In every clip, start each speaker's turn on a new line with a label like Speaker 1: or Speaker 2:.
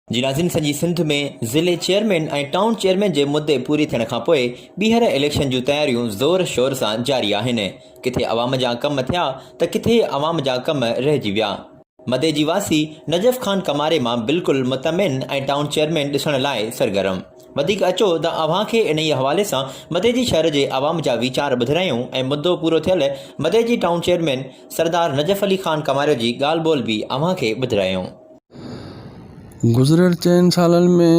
Speaker 1: جي ناظرين سڄي سنڌ ۾ ضلعي چيئرمين ۽ ٽائون چيئرمين جي مدي پوري ٿيڻ کانپوء ٻيهر اليڪشن جون تياريون زور شور سان جاري آهن ڪٿي عوام جا ڪم ٿيا ته ڪٿي عوام جا ڪم رهجي ويا مدي جي واسي نجف خان ڪماري مان بلڪل مطمئن ۽ ٽائون چيئرمين ڏسڻ لاء سرگرم. وڌيڪ اچو ته اوهان کي انهيء حوالي سان مدي جي شهر جي عوام جا ويچار ٻڌرايون ۽ مدو پورو ٿيل مدي جي ٽائون چيئرمين سردار نجف علي خان ڪماري جي ڳالهه ٻولهه به اوهان کي ٻڌرايون. گذريل
Speaker 2: چئن سالن ۾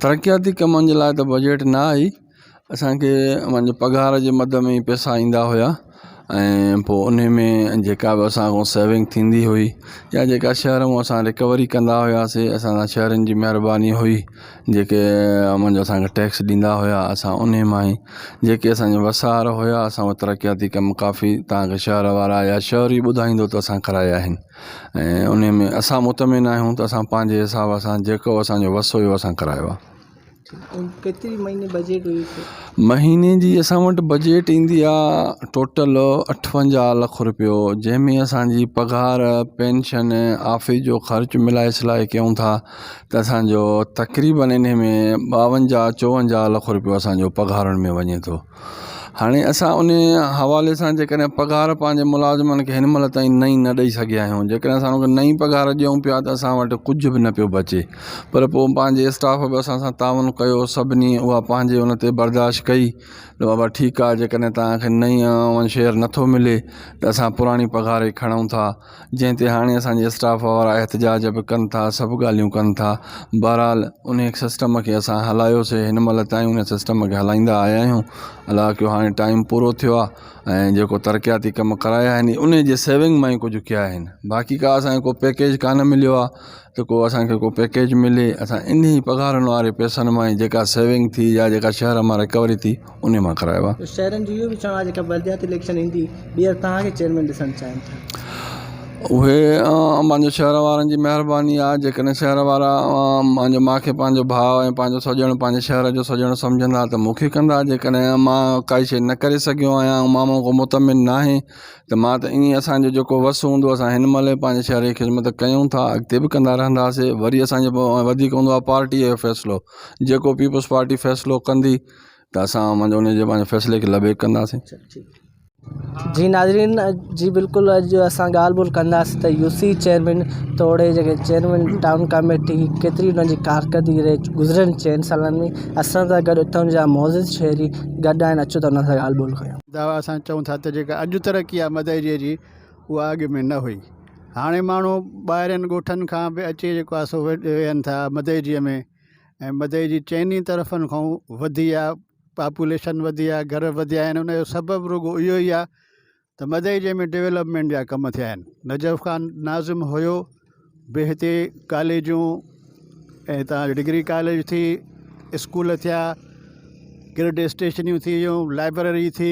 Speaker 2: ترقياتي ڪمن جي لاء ته بجيٽ نه آئي. اسانکي پنهنجي پگهار جي مد ۾ ئي پئسا ايندا هيا ۽ پوء انهي ۾ جيڪا به اسان کان سيونگ ٿيندي هئي يا جيڪا شهر مون اسان رڪوري ڪندا هياسي اسان سان شهرين جي مهرباني هئي جيڪي منجهه اسانکي ٽيڪس ڏيندا هيا اسان انهي مان ئي جيڪي اسانجا وسار هيا اسان وٽ ترقياتي ڪم ڪافي تانڪه شهر وارا يا شهري ٻڌائيندو ته اسان ڪرايا آهن ۽ انهي ۾ اسان مطمئن آهيون ته اسان پنهنجي حساب سان جيڪو اسانجو وس هيو اسان ڪرايو آهي
Speaker 3: مهيني جي
Speaker 2: اسان وٽ بجيٽ ايندي آهي ٽوٽل اٺونجاهه لک روپيو جنهن ۾ اسانجي پگهار پينشن آفيس جو خرچ ملائي سلائي ڪيون ٿا ته اسانجو تقريبن ان ۾ ٻاونجاهه چوونجاهه لک روپيو اسانجو پگهارن ۾ وڃي ٿو هاڻي اسان ان حوالي سان جيڪڏهن پگهار پنهنجي ملازمن کي هن مهل تائين نئين نه ڏئي سگهيا آهيون جيڪڏهن اسان انهن کي نئين پگهار ڏيون پيا ته اسان وٽ ڪجهه به نه پيو بچي پر پوء پنهنجي اسٽاف به اسان سان تعاون ڪيو سڀني اها پنهنجي ان تي برداشت ڪئي ته بابا ٺيڪ آهي جيڪڏهن توهان کي نئين شيئر نٿو ملي ته اسان پراڻي پگهار ئي کڻون ٿا جنهن تي هاڻي اسان جي اسٽاف وارا احتجاج به ڪن ٿا سڀ ڳالهيون ڪن ٿا بهرحال ان سسٽم کي اسان هلايوسي هن مهل تائين ان سسٽم کي هلائيندا آيا آهيون الاء ڪيو هاڻي ٽائيم پورو ٿيو آهي ۽ جيڪو ترقياتي ڪم ڪرايا آهن ان جي سيونگ مان ئي ڪجهه ڪيا آهن باقي ڪا اسان کي ڪو پيڪيج ڪانه مليو آهي ته ڪو اسان کي ڪو پيڪيج ملي اسان انهي پگهارن واري پئسن مان ئي جيڪا سيونگ ٿي يا جيڪا شهر مان رڪوري ٿي انهي مان ڪرايو آهي. شهرين جو اهو به چوڻ آهي جيڪا
Speaker 3: بلدياتي اليڪشن ايندي ٻيهر توهان کي چيئرمين ڏسڻ چاهين
Speaker 2: ٿا. اهي مانجي شهر وارن جي مهرباني آهي جيڪڏهن شهر وارا مانجو مان کي پنهنجو ڀاء ۽ پنهنجو سڄڻ پنهنجي شهر جو سڄڻ سمجهندا ته مون کي ڪندا جيڪڏهن مان ڪائي شئي نه ڪري سگهيو آهيان مان مان ڪو مطمئن ناهي ته مان ته ائين اسانجو جيڪو وس هوندو اسان هن مهل به پنهنجي شهر جي خدمت ڪيون ٿا اڳتي به ڪندا رهنداسي وري اسانجو وڌيڪ هوندو آهي پارٽي جو فيصلو جيڪو پيپلز پارٽي فيصلو ڪندي ته اسان منجهه ان جي پنهنجي فيصلي کي لبيڪ ڪنداسين
Speaker 3: جي ناظرين جي بلڪل اڄ اسان ڳالهه ٻولهه ڪنداسين ته يو سي چيئرمين توڙي جيڪي چيئرمين ٽائون ڪاميٽي ڪيتري انهن جي ڪارڪردگي رهي گذريل چئن سالن ۾ اسان سان گڏ اتان جا معزز شهري گڏ آهن اچو ته انهن سان ڳالهه ٻولهه ڪيون دعويٰ اسان چئون ٿا ته
Speaker 4: جيڪا اڄ ترقي آهي مدئجي جي اها اڳ ۾ نه هئي هاڻي ماڻهو ٻاهرين ڳوٺن کان به اچي جيڪو آهي سو ويهن ٿا مدئجي ۾ ۽ مدئي جي چئني طرفن کان وڌي آ پاپوليشن وڌي آ گهر وڌيا آهن ان جو سبب رڳو اهو ئي آ ته مدئي جي ۾ ڊولپمينٽ جا ڪم ٿيا آهن نجف خان ناظم هيو به هتي ڪاليجون ۽ هتان ڊگري ڪاليج ٿي اسڪول ٿيا گرڊ اسٽيشنيون ٿي ويون لائبرري ٿي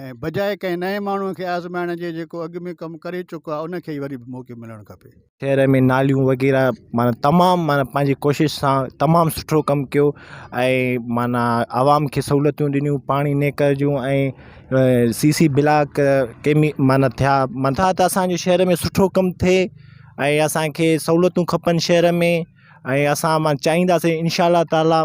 Speaker 4: ۽ بجاء ڪنهن نئين ماڻهو کي آزمائڻ جي جيڪو اڳ ۾ ڪم ڪري چڪو آهي ان کي ئي وري به موقعو ملڻ کپي. شهر ۾ ناليون
Speaker 5: وغيره معنيٰ تمام معنيٰ پنهنجي ڪوشش سان تمام سٺو ڪم ڪيو ۽ معنيٰ عوام کي سهولتون ڏنيون پاڻي نيڪر جون ۽ سي سي بلاڪ ڪيمي معنيٰ ٿيا منتها ته اسانجي شهر ۾ سٺو ڪم ٿئي ۽ اسانکي سهولتون کپن شهر ۾ ۽ اسان مان چاهينداسين انشاء الله تعالٰي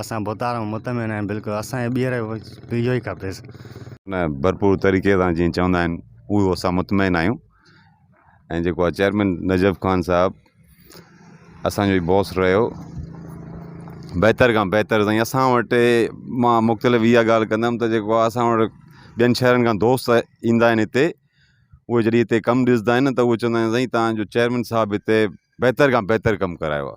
Speaker 6: اسان بوتار مان مطمئن آهيون بلڪل اسان کي ٻيهر به اهو ئي کپي. ان ڀرپور
Speaker 7: طريقي سان جيئن چوندا آهن اهو اسان مطمئن آهيون ۽ جيڪو آ چيئرمين نجف خان صاحب اسان جو هي باس رهيو بهتر کان بهتر سائين اسان وٽ مان مختلف اها ڳالهه ڪندم ته جيڪو آ اسان وٽ ٻين شهرن کان دوست ايندا آهن هتي اهي جڏهن هتي ڪم ڏسندا آهن ته اهي چوندا آهن سائين تهان جو چيئرمين صاحب هتي بهتر کان بهتر ڪم ڪرايو آ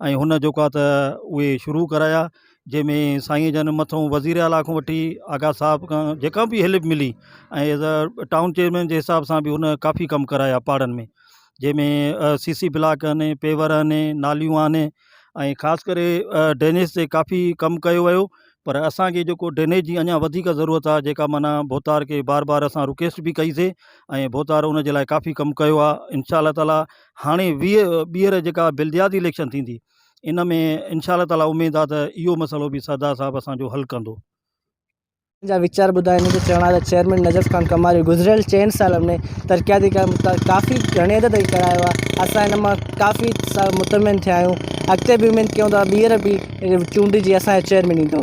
Speaker 8: ۽ هن جوکا ته اهي شروع ڪرايا جنهن ۾ سائين جن مٿو وزير اعليٰ کان وٺي آغا صاحب کان جيڪا بي هيلپ ملي ۽ ايز ا ٽائون چيئرمين جي حساب سان بي هن ڪافي ڪم ڪرايا پاڙن ۾ جنهن ۾ سي سي بلاڪ آهن پيور آهن ناليون آهن ۽ خاص ڪري ڊرينيز تي ڪافي ڪم ڪيو ويو پر اسانکي جيڪو ڊرينيز جي اڃا وڌيڪ ضرورت آهي جيڪا معنيٰ ڀوتار کي بار بار اسان رڪيسٽ بي ڪئي سي ۽ ڀوتار ان جي لاء ڪافي ڪم ڪيو آهي انشاء الله تعالٰي هاڻي ٻيهر جيڪا بلدياتي اليڪشن ٿيندي ان ۾ انشاء الله تعالٰي اميد آهي ته اهو مسئلو به سردار صاحب اسان جو حل ڪندو
Speaker 3: جا ويچار ٻڌا هن جو چوڻ آهي ته چيئرمين نجف خان ڪماري گذريل چئن سالن ۾ ترقياتي ڪم ڪافي گهڻي حد تائين ڪرايو آهي اسان هن مان ڪافي مطمئن ٿيا آهيون اڳتي به اميد ڪيون ٿا ٻيهر به چونڊجي اسان جو چيئرمين ايندو